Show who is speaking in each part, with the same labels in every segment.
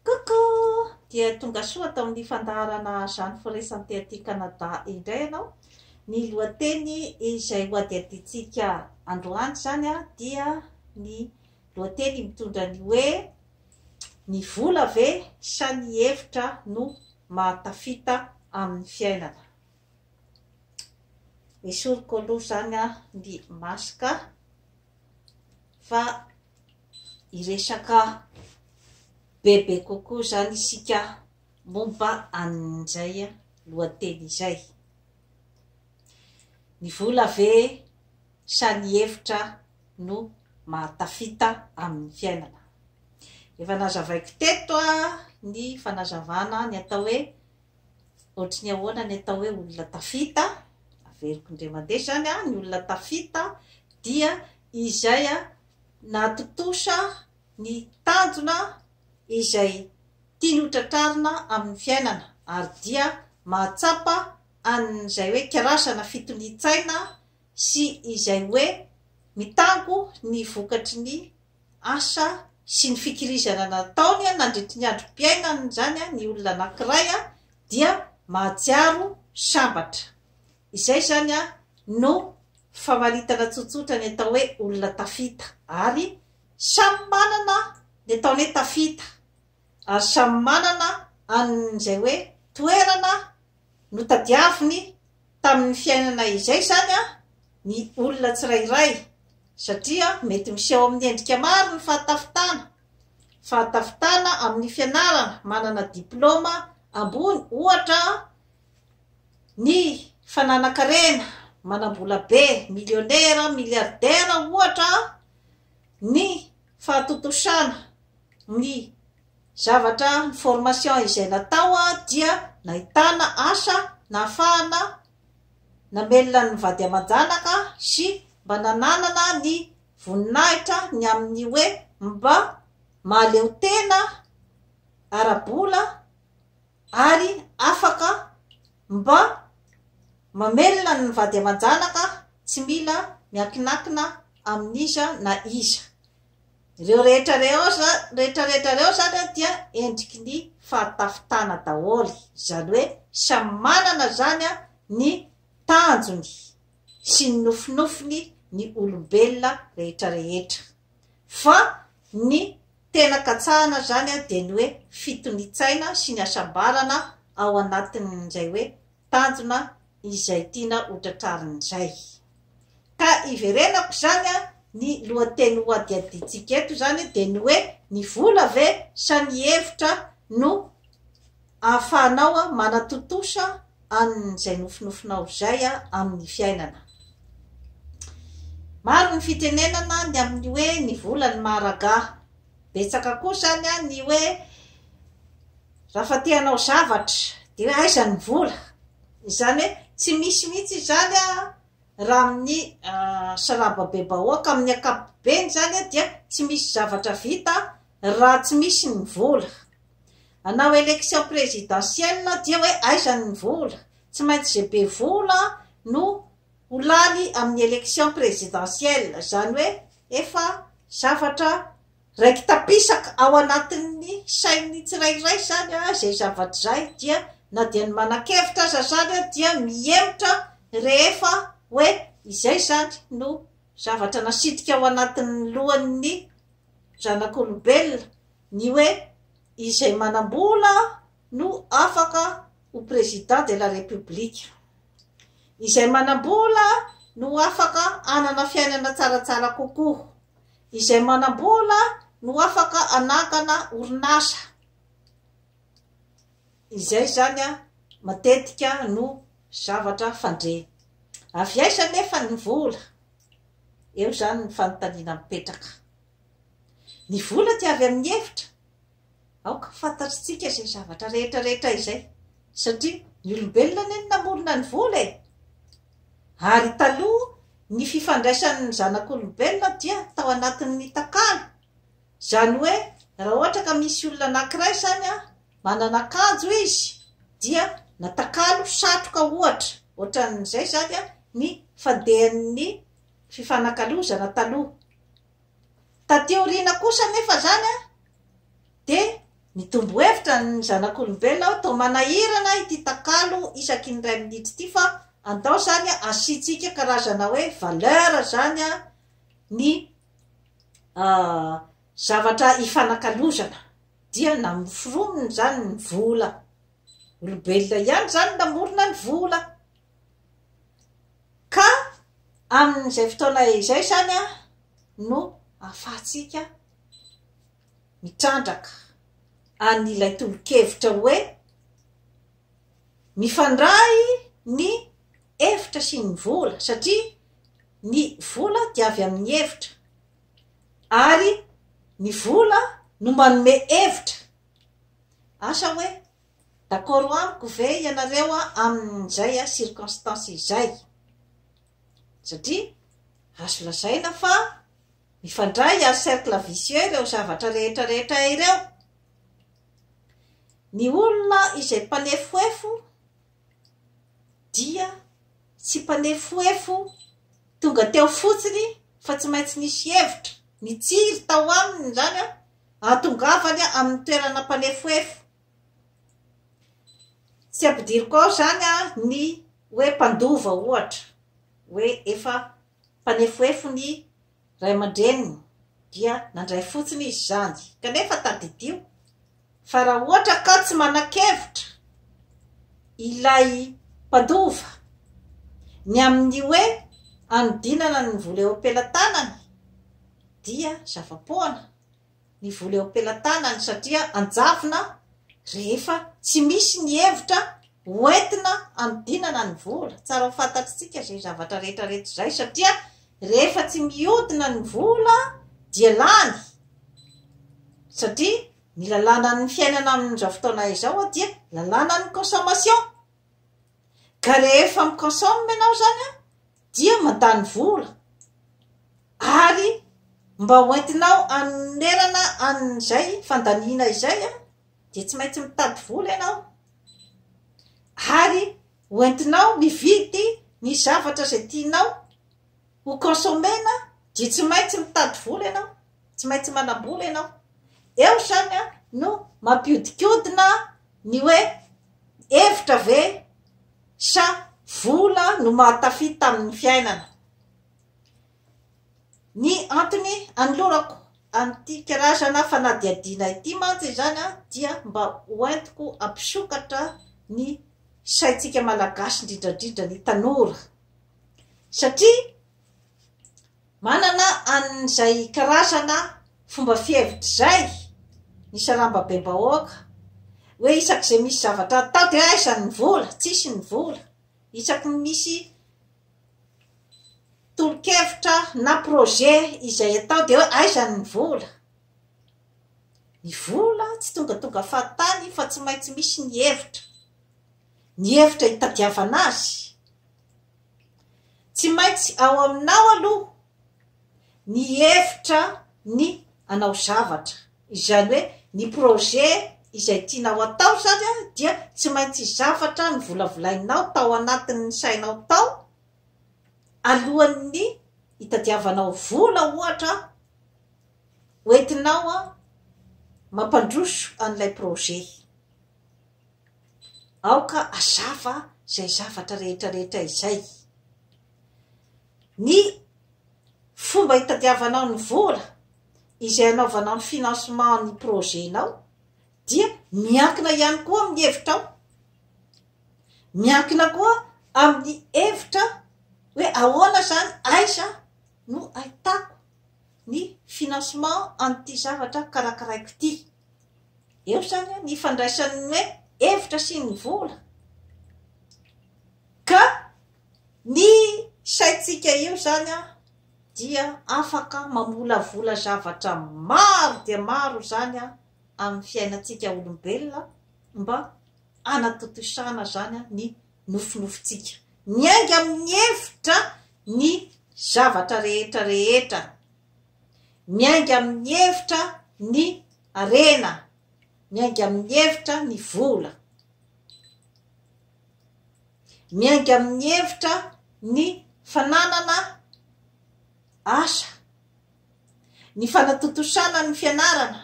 Speaker 1: Coucou! Dia tonga soa tao amin'ny fandaharana Jeanne Foresanté aty Canada indray ianao. Ny lohateny izay hohadihadiantsika androany izany dia ny lohateny mitondra ny hoe Ny vola ve sa ny hevitra no mahatafita amin'ny fiainana? Esoriko aloha izany ny masque. fa hiresaka bebe kokoa izany isika momba an'izay lohateny izay. Ny vola ve sa ny hevitra no mahatafita amin'ny fiainana? Efa nazavaiko teto ny fanazavana ny atao hoe Ohatry ny ahoana ny atao hoe olona tafita? Averiko indray mandeha izany an, ny olona tafita dia izay nahatontosa ny tanjona izay tiany ho tratrarina amin'ny fiainana ary dia mahatsapa an'izay hoe kirasana fitonian-tsaina, sy izay hoe mitango ny vokatry ny asa sy ny fikirizana nataony nandritry ny androm-piainany izany ny olona anankiray dia mahatsiaro sambatra. Izay izany no famaritana tsotsotra ny atao hoe olona tafita ary samy manana ny ataony hoe tafita ary samy manana an'izay hoe toerana Notadiaviny tamin'ny fiainana izay izany ny olona tsirairay, satria mety miseho amin'ny endrika maro ny fahatafitana, fahatafitana amin'ny fianarana, manana diplaoma ambony ohatra, ny fananan-karena, manam-bola be, milionera, miliardera ohatra, ny fahatontosana, ny Zavatra, ny formation izay natao dia nahitana asa nahafahana namelona ny vady aman-janaka sy mba nananana ny voninahitra ny amin'ny hoe mba mahaleo tena ara-bola ary afaka mba mamelona ny vady aman-janaka tsy mila miankinakina amin'iza na iza. Ireo rehetra rehetra ireo izany dia endriky ny fahatafitana daholo, izany hoe samy manana izany ny tanjony sy ny nofinofiny ny olombelona rehetra rehetra fa ny tena katsahana izany dia ny hoe fitoni-tsaina sy ny hasambarana ao anatin'izay hoe tanjona izay tiana ho tratrariny izay. Ka iverenako izany ny lohateny hohadihadiantsika eto izany dia ny hoe ny vola ve sa ny hevitra no ahafahanao manatontosa an'izay nofinofinao izay amin'ny fiainana. Maro ny fitenenana ny amin'ny hoe ny vola ny maha-ragà. Betsaka koa izany ny hoe Raha fa te hanao zavatra dia hoe aiza ny vola? Izany hoe tsy misy mihitsy izany raha amin'ny sarababebahoaka, amin'ny ankapobeny izany dia tsy misy zavatra vita raha tsy misy ny vola. Hanao élection présidentielle dia hoe aiza ny vola? Tsy maintsy izay be vola no ho lany amin'ny élection présidentielle, izany hoe efa zavatra. Raiki-tapisaka ao anatin'ny sain'ny tsirairay izany izay zavatra izay dia na dia ny manan-kevitra aza izany dia mihemotra rehefa hoe izay izany no zavatra nasitrika ao anatin'ny lohan'ny zanak'olombelona ny hoe izay manam-bola no afaka ho président de la république, izay manam-bola no afaka hanana fiainana tsaratsara kokoa, Izay manam-bola no afaka hanangana orinasa. Izay izany matetika no zavatra fandre. Avy aiza anefa ny vola? Eo izany ny fanontaniana mipetraka. Ny vola dia avy amin'ny hevitra. Aoka ho fantatr'tsika izay zavatra rehetra rehetra izay, satria ny olombelona anie no namorona ny vola e! Ary taloha ny fifandraisan'ny zanak'olombelona dia tao anatin'ny takalo, izany hoe raha ohatra ka misy olona anankiray izany an, manana akanjo izy dia na takalo, satroka ohatra, ohatran'izay izany an, ny fandehan'ny fifanakalozana taloha. Taty aoriana kosa anefa izany dia nitombo hevitra ny zanak'olombelona hoe toa manahirana ity takalo isaky ny iray minitra ity fa andao izany asiantsika karazana hoe valeur izany ny zavatra ifanakalozana dia namoronina izany ny vola, olombelona ihany izany namorona ny vola. Ka amin'izay fotoana izay izany no ahafahantsika mitrandraka an'ilay tolo-kevitra hoe mifandray ny hevitra sy ny vola satria ny vola dia avy amin'ny hevitra ary ny vola no manome hevitra. Asa hoe D'accord amiko ve ianareo amin'izay circonstance izay? Satria azo lazaina fa mifandray ary cercle vicieux ireo zavatra rehetra rehetra ireo. Ny olona izay mpanefoefo dia tsy mpanefoefo tonga teo fotsiny fa tsy maintsy nisy hevitra nitsiry tao aminy izany ahatongavany amin'ny toerana mpanefoefo. Tsy ampidiriko ao izany ny hoe mpandova ohatra, hoe efa mpanefoefo ny ray aman-dreniny dia nandray fotsiny izy izany, kanefa tadidio fa raha ohatra ka tsy manan-kevitra ilay mpandova ny amin'ny hoe hanodinana ny vola eo am-pelatanany dia zava-poana. ny vola eo am-pelatanany satria anjavona rehefa tsy misy ny hevitra hoentina hanodinana ny vola. Tsara ho fantatritsika izay zavatra rehetrarehetra izay satria rehefa tsy miodina ny vola dia lany satria ny lalànan'ny fiainana amin'izao fotoana izao dia lalànan'ny consommation ka rehefa miconsomme ianao izany dia mandany vola ary mba hoentinao anonerana an'izay fandaniana izay a dia tsy maintsy mitady vola ianao ary hoentinao mividy ny zavatra izay tianao ho consommer-na dia tsy maintsy mitady vola ianao tsy maintsy manam-bola ianao eo izany a no mampiodikodina ny hoe hevitra ve Sa vola no mahatafita amin'ny fiainana? Ny antony anolorako an'ity karazana fanadihadiana ity mantsy izany dia mba ho entiko hampisokatra ny saintsika Malagasy indrindra indrindra ny tanora satria Manana an'izay karazana fomba fihevitra izay ny sarambabem-bahoaka hoe isak'izay misy zavatra hatao dia aiza ny vola, tsisy ny vola, isaky ny misy tolo-kevitra na projet izay atao dia hoe aiza ny vola. Ny vola tsy tongatonga fahatany fa tsy maintsy misy ny hevitra, ny hevitra hitadiavana azy. Tsy maintsy ao aminao aloha ny hevitra ny hanao zavatra, izany hoe ny projet izay tianao atao zany dia tsy maintsy zavatra novolavolainao tao anatin'ny sainao tao alohan'ny hitadiavanao vola ohatra hoentinao mampandroso an'ilay projet. Aoka hazava izay zavatra rehetrarehetra izay. Ny fomba itadiavanao ny vola izay anaovanao ny financement ny projet-nao dia miankina ihany koa amin'ny hevitrao. Miankina koa amin'ny hevitra hoe ahoana izany, aiza no ahitako ny financement an'ity zavatra karakaraiko ity. Eo izany an ny ifandraisan'ny hoe hevitra sy ny vola. Ka ny saintsika io izany an dia afaka mamolavola zavatra maro dia maro izany an amin'ny fiainantsika olombelona mba hanatontosana izany an ny nofinofintsika. Miainga amin'ny hevitra ny zavatra rehetra rehetra Miainga amin'ny hevitra ny harena. Miainga amin'ny hevitra ny vola. Miainga amin'ny hevitra ny fananana asa. Ny fanatontosana ny fianarana.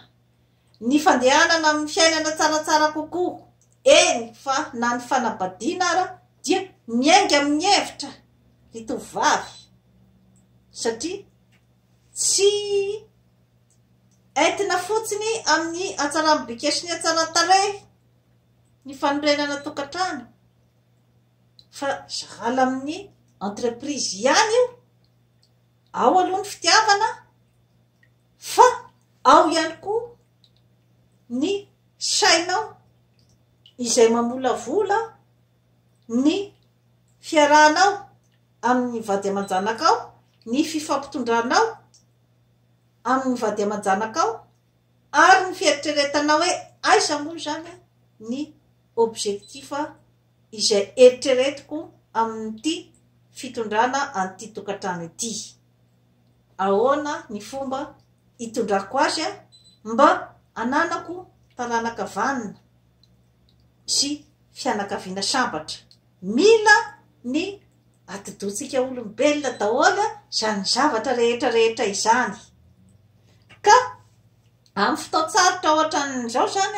Speaker 1: Ny fandehanana amin'ny fiainana tsaratsara kokoa, eny fa na ny fanabadiana ara dia miainga amin'ny hevitra ry tovovavy satria tsy entina fotsiny amin'ny hatsaran'ny bika sy ny hatsaran-tarehy ny fanorenana tokantrano fa sahala amin'ny entreprise ihany io Ao aloha ny fitiavana fa ao ihany koa ny sainao izay mamolavola ny fiarahanao amin'ny vady aman-janakao, ny fifampitondranao amin'ny vady aman-janakao ary ny fieritreretanao hoe aiza moa izany ny objectif. izay eritreretiko amin'ity fitondrana an'ity tokantrano ity. Ahoana ny fomba hitondrako azy mba hananako taranaka vanona sy fianakaviana sambatra. Mila ny atidohantsika olombelona daholo izany zavatra rehetra rehetra izany. Ka amin'ny fotoan-tsarotra ohatran'izao izany,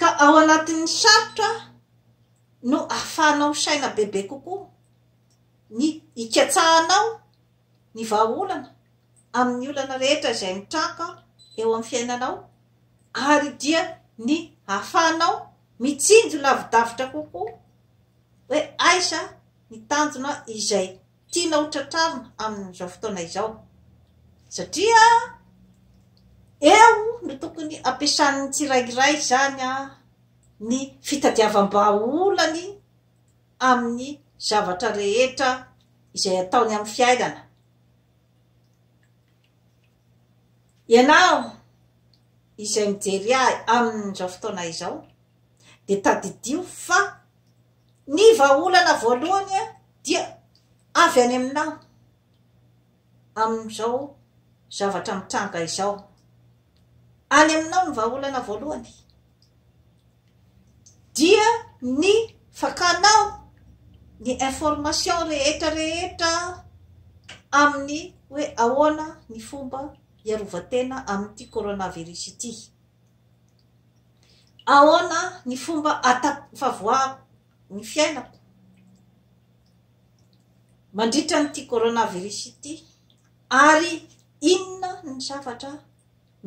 Speaker 1: Ka ao anatin'ny sarotra no ahafahanao misaina bebe kokoa, ny hikatsahanao ny vahaolana amin'ny olana rehetra izay mitranga eo amin'ny fiainanao ary dia ny ahafahanao mitsinjo lavidavitra kokoa hoe aiza ny tanjona izay tiana ho tratrarina amin'izao fotoana izao satria eo no tokony ampiasan'ny tsirairay izany ny fitadiavam-bahaolany amin'ny zavatra rehetra izay ataony amin'ny fiainana. Ianao izay mijery ahy amin'izao fotoana izao, dia tadidio fa ny vahaolana voalohany dia avy any aminao amin'izao zavatra mitranga izao. Any aminao ny vahaolana voalohany dia ny fakanao ny information rehetra rehetra amin'ny hoe ahoana ny fomba hiarovatena amin'ity coronavirus ity. Ahoana ny fomba ahatafavoahako ny fiainako mandritra an'ity coronavirus ity ary inona ny zavatra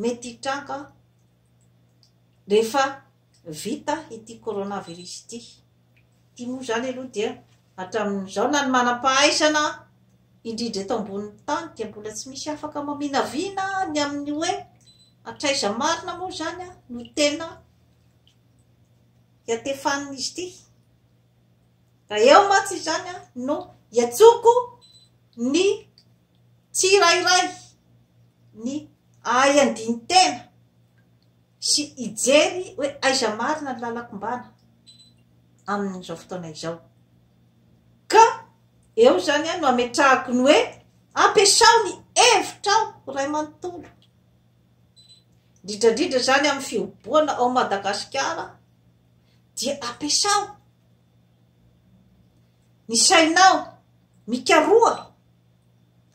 Speaker 1: mety hitranga rehefa vita ity coronavirus ity? Ity moa izany aloha dia hatramin'izao na ny manam-pahaizana indrindra eto ambonin'ny tany dia mbola tsy misy afaka maminavina ny amin'ny hoe hatraiza marina moa izany no tena hiatefan'izy ity. Raha eo mantsy izany no hiantsoko ny tsirairay ny ahy andinin-tena. sy hijery hoe aiza marina ny lalan-kombana amin'izao fotoana izao. Ka eo izany no ametrahako ny hoe ampiasao ny hevitrao ho ray manontolo. Dridradridra izany amin'ny fihoboana ao Madagasikara dia ampiasao ny sainao mikaroha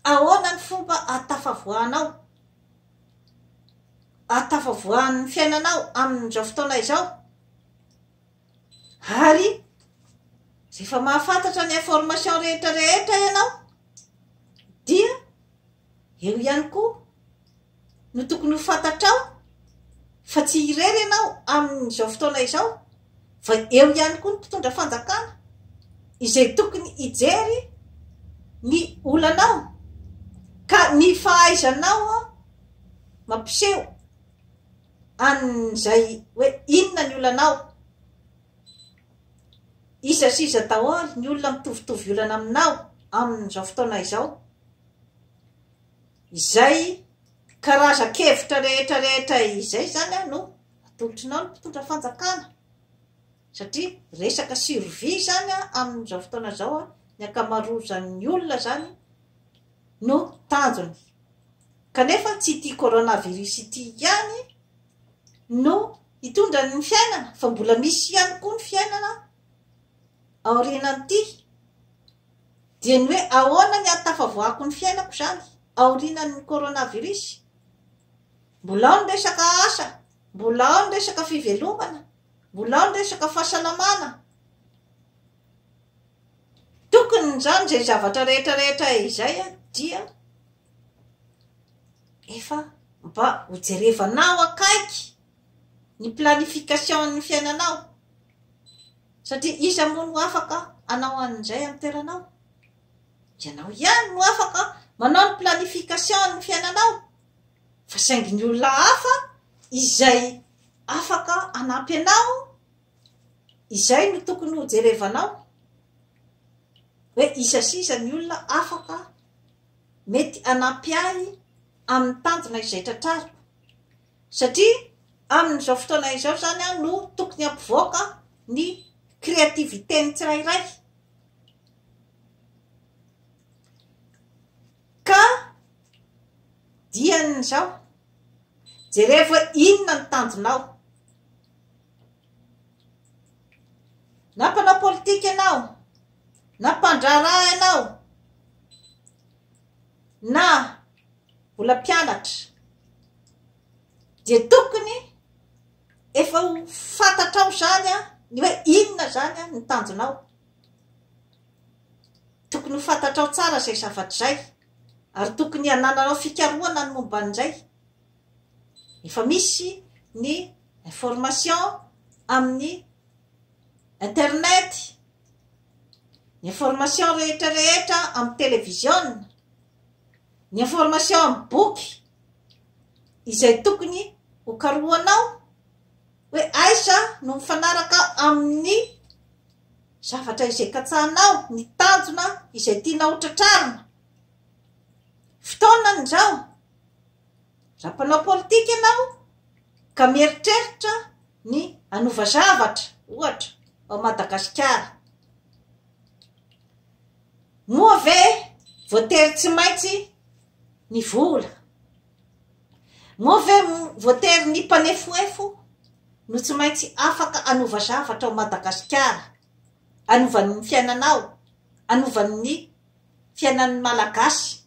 Speaker 1: ahoana ny fomba ahatafavoahanao ahatafavoahan'ny fiainanao amin'izao fotoana izao ary rehefa mahafantatra ny information rehetra rehetra ianao dia eo ihany koa no tokony ho fantatrao fa tsy irery ianao amin'izao fotoana izao fa eo ihany koa ny mpitondra fanjakana izay tokony hijery ny olanao ka ny fahaizanao mampiseho an'izay hoe inona ny olanao iza sy iza daholo ny olona mitovitovy olana aminao amin'izao fotoana izao izay karazan-kevitra rehetra rehetra izay zany no Atolotrinao ny mpitondra fanjakana satria resaka survie izany amin'izao fotoana izao ny ankamaroazan'ny olona izany no tanjony. Kanefa tsy ity coronavirus ity ihany no hitondra ny fiainana fa mbola misy ihany koa ny fiainana aorianan'ity. Dia ny hoe ahoana ny ahatafavoahako ny fiainako izany aorianan'ny coronavirus? Mbola ao ny resaka asa, mbola ao ny resaka fivelomana, mbola ao ny resaka fahasalamana. Tokony izany izay zavatra rehetra rehetra izay dia efa mba hojerevanao akaiky ny planification-n'ny fiainanao. Satria iza moa no afaka hanao an'izay amin'ny toeranao? Ianao ihany no afaka manao ny planification-n'ny fiainanao. fa saingy ny olona hafa izay afaka hanampy anao izay no tokony ho jerevanao hoe isa sisa ny olona afaka mety hanampy ahy amin'ny tanjona izay tratrariko satria amin'izao fotoana izao zany aho no tokony hampivoaka ny créativité ny tsirairay Ka diany izao, jereo fa inona ny tanjonao. Na mpanao politika ianao, na mpandraharaha ianao, na mbola mpianatra, dia tokony efa ho fantatrao izany ny hoe inona izany ny tanjonao. Tokony ho fantatrao tsara izay zavatra izay ary tokony hanananao fikarohana ny momba an'izay. Efa misy ny information amin'ny internet, ny information rehetra rehetra amin'ny televiziona, ny information amin'ny boky izay tokony hokarohanao. hoe aiza no mifanaraka amin'ny zavatra izay katsahanao, ny tanjona izay tianao hotratrarina. Fotoana izao, raha mpanao politika ianao ka mieritreritra ny hanova zavatra, ohatra, ao Madagasikara. Moa ve voatery tsy maintsy ny vola? Moa ve voatery ny mpanefoefo no tsy maintsy afaka hanova zavatra ao Madagasikara, hanova ny fiainanao, hanova ny fiainan'ny Malagasy?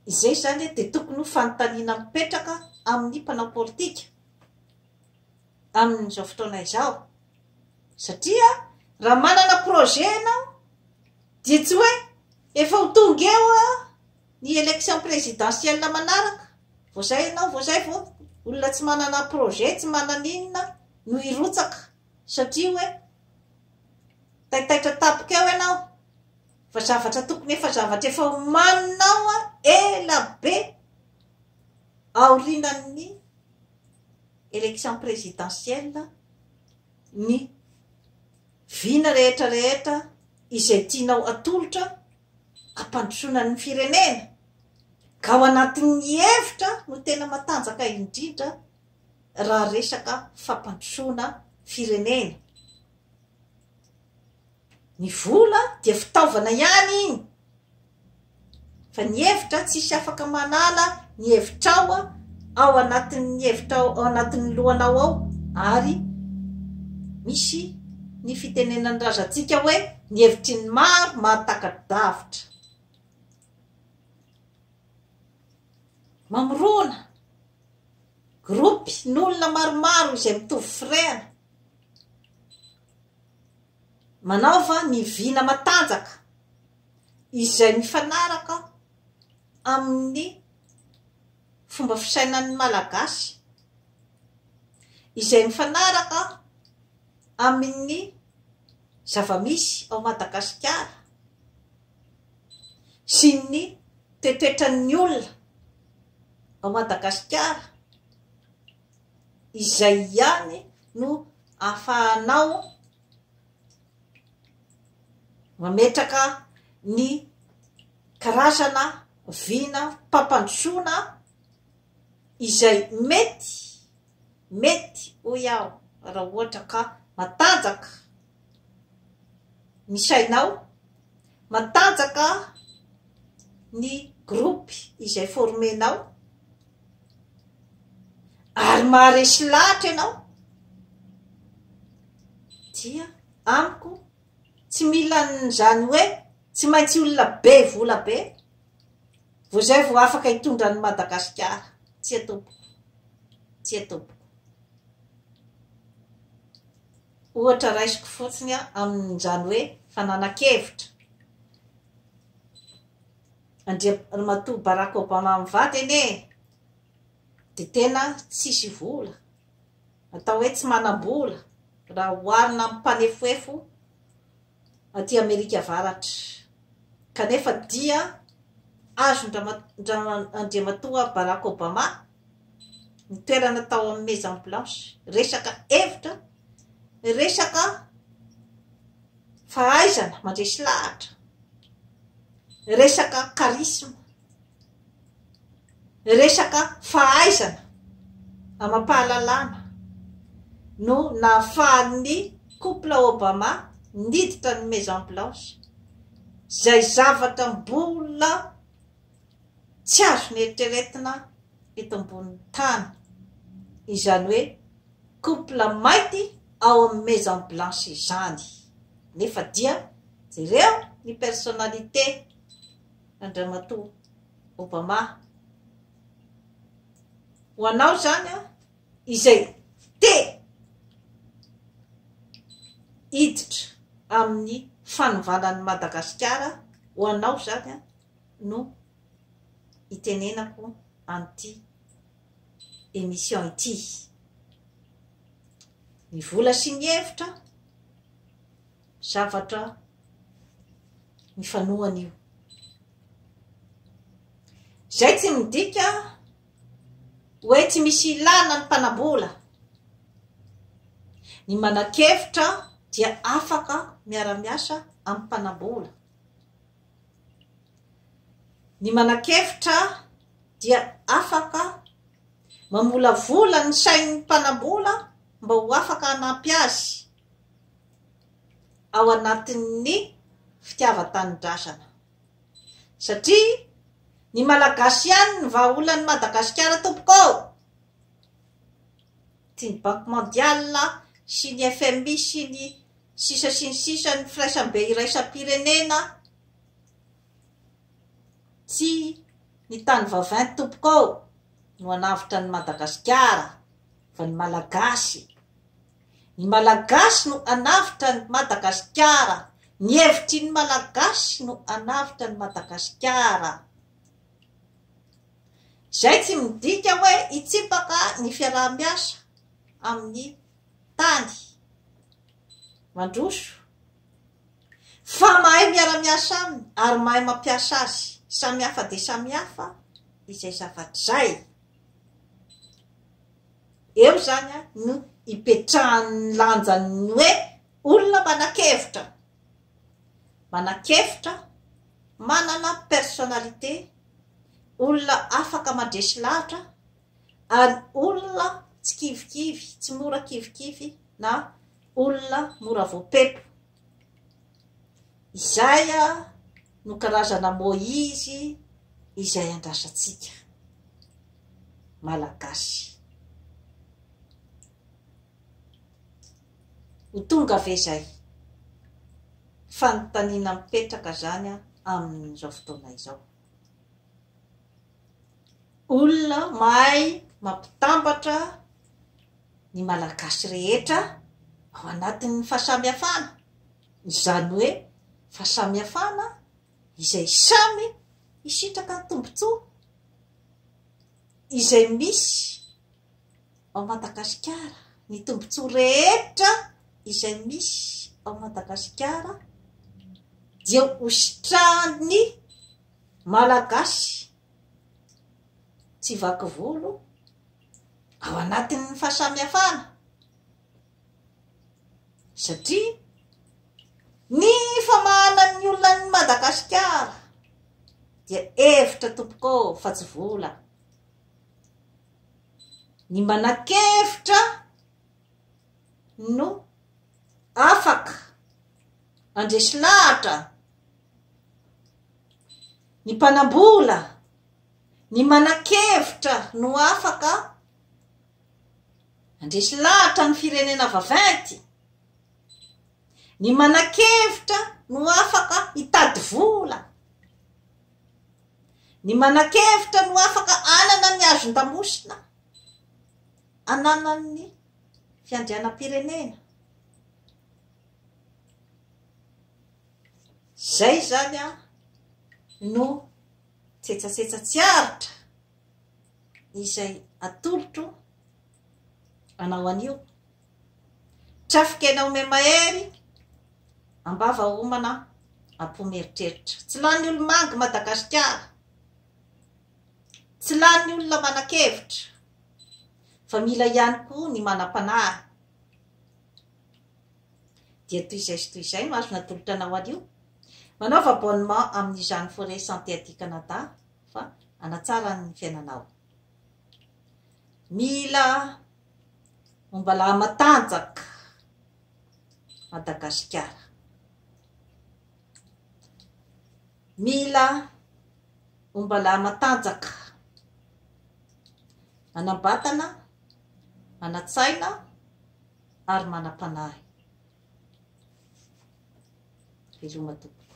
Speaker 1: Izay izany dia tokony ho fanontaniana mipetraka amin'ny mpanao politika amin'izao fotoana izao, satria raha manana projet ianao dia tsy hoe efa ho tonga eo aho, Ny election presidentielle manaraka, vao zay ianao vao zay vao olona tsy manana projet tsy manana inona no hirotsaka satria hoe taitaitra tampoka eo ianao fa zavatra tokony efa zavatra efa omaninao ela be aorinan'ny election presidentielle ny vina rehetra rehetra izay tianao atolotra hampandrosoana ny firenena ka ao anatin'ny hevitra no tena matanjaka indrindra raha resaka fampandrosoana firenena. Ny vola dia fitaovana ihany iny fa ny hevitra tsisy afaka manala ny hevitrao ao anatin'ny hevitrao ao anatin'ny lohanao ao ary misy ny fitenenan'ny razantsika hoe Ny hevitry ny maro mahataka-davitra. Mamorona gropy n'olona maromaro izay mitovy firehana. Manaova ny vina matanjaka izay mifanaraka amin'ny. fomba fisainan'ny Malagasy izay mifanaraka amin'ny zava-misy ao Madagasikara sy ny toetoetran'ny olona ao Madagasikara, izay ihany no ahafahanao. Mametraka ny karazana vinam-pampandrosoana izay mety, mety hoy aho raha ohatra ka matanjaka ny sainao, matanjaka ny groupe izay formenao ary maharesy lahatra ianao dia amiko tsy mila n'izany hoe tsy maintsy olona be vola be vao izay vao afaka hitondra an'i Madagasikara tsy atompoko tsy atompoko ohatra raisiko fotsiny amin'izany hoe fananan-kevitra Andriamatoa Barack Obama mivady anie dia tena tsisy vola, atao hoe tsy manam-bola raha oharina amin'ny mpanefoefo aty Amerika Avaratra, kanefa dia azon-dRandriamatoa Barack Obama ny toerana tao amin'ny Maison Blanche, resaka hevitra, resaka fahaizana mandresy lahatra, resaka charisme, resaka fahaizana amam-pahalalana no nahafahan'ny couple Obama niditra ny Maison Blanche, izay zavatra mbola. tsy azo neritreretina eto ambonin'ny tany, izany hoe couple mainty ao amin'ny maison blanche izany, nefa dia jereo ny personnalité Andriamatoa Obama, ho anao izany izay te hiditra amin'ny fanovana an'i Madagasikara, ho anao izany. no itenenako an'ity émission ity. Ny vola sy ny hevitra, zavatra mifanohana io. Izay tsy midika hoe tsy misy ilana ny mpanambola. Ny manan-kevitra dia afaka miara-miasa amin'ny mpanambola. Ny manan-kevitra dia afaka mamolavola ny sain'ny mpanam-bola mba ho afaka hanampy azy ao anatin'ny fitiavan-tanindrazana. Satria ny Malagasy ihany ny vahaolan'i Madagasikara tompoko ô! Tian'ny Banky Mondiale sy ny FMI sy ny Sisa sy ny sisa Ny firaisambe iraisam-pirenena Tsy ny tany vavint tompoko ao no hanavotra an'i Madagasikara fa ny Malagasy Ny Malagasy no hanavotra an'i Madagasikara Ny hevitry ny Malagasy no hanavotra an'i Madagasikara Izay tsy midika hoe hitsipaka ny fiaraha-miasa amin'ny tany mandroso fa mahay miara-miasa aminy ary mahay mampiasa azy samy hafa dia samy hafa izay zavatra izay eo izany a no ipetrahan'ny lanjan'ny hoe olona manan-kevitra manan-kevitra manana personnalité olona afaka mandresy lahatra ary olona tsy kivikivy, tsy mora kivikivy na olona mora voapepo. Izay no karazana Moizy izay andrasantsika Malagasy. Ho tonga ve izay? Fanontaniana mipetraka izany amin'izao fotoana izao. Olona mahay mampitambatra ny Malagasy rehetra ao anatin'ny fahasamihafana, izany hoe fahasamihafana izay samy hisitraka tombontsoa, izay misy. ao Madagasikara, ny tombontsoa rehetra izay misy ao Madagasikara dia hositrahan'ny Malagasy tsy vaky volo ao anatin'ny fahasamihafana satria ny famahana ny olona an'i Madagasikara dia hevitra tompoko fa tsy vola. Ny manan-kevitra no afaka mandresy lahatra, ny mpanam-bola, ny manan-kevitra no afaka mandresy lahatra ny firenena vaventy, ny manan-kevitra no afaka hitady vola. Ny manan-kevitra no afaka anana ny hazon-damosina ananan'ny fiandrianam-pirenena. Izay izany an no tsetsasetsa tsy aritra izay atolotro anao anio. Trafikena ome mahery ambava homana apo mieritreritra. Tsy lany olomangy i Madagasikara. Tsy lany olona manan-kevitra fa mila ihany koa ny manam-panahy. Dia toy izay sy toy izay no azo natolotra anao anio. Manaova abonnement amin'izany Forêt Santé aty Canada fa hanatsara ny fiainanao. Mila. Momba lahy matanjaka Madagasikara. Mila momba lahy matanjaka. Manam-batana, manan-tsaina ary manam-panahy. Veloma tompoko.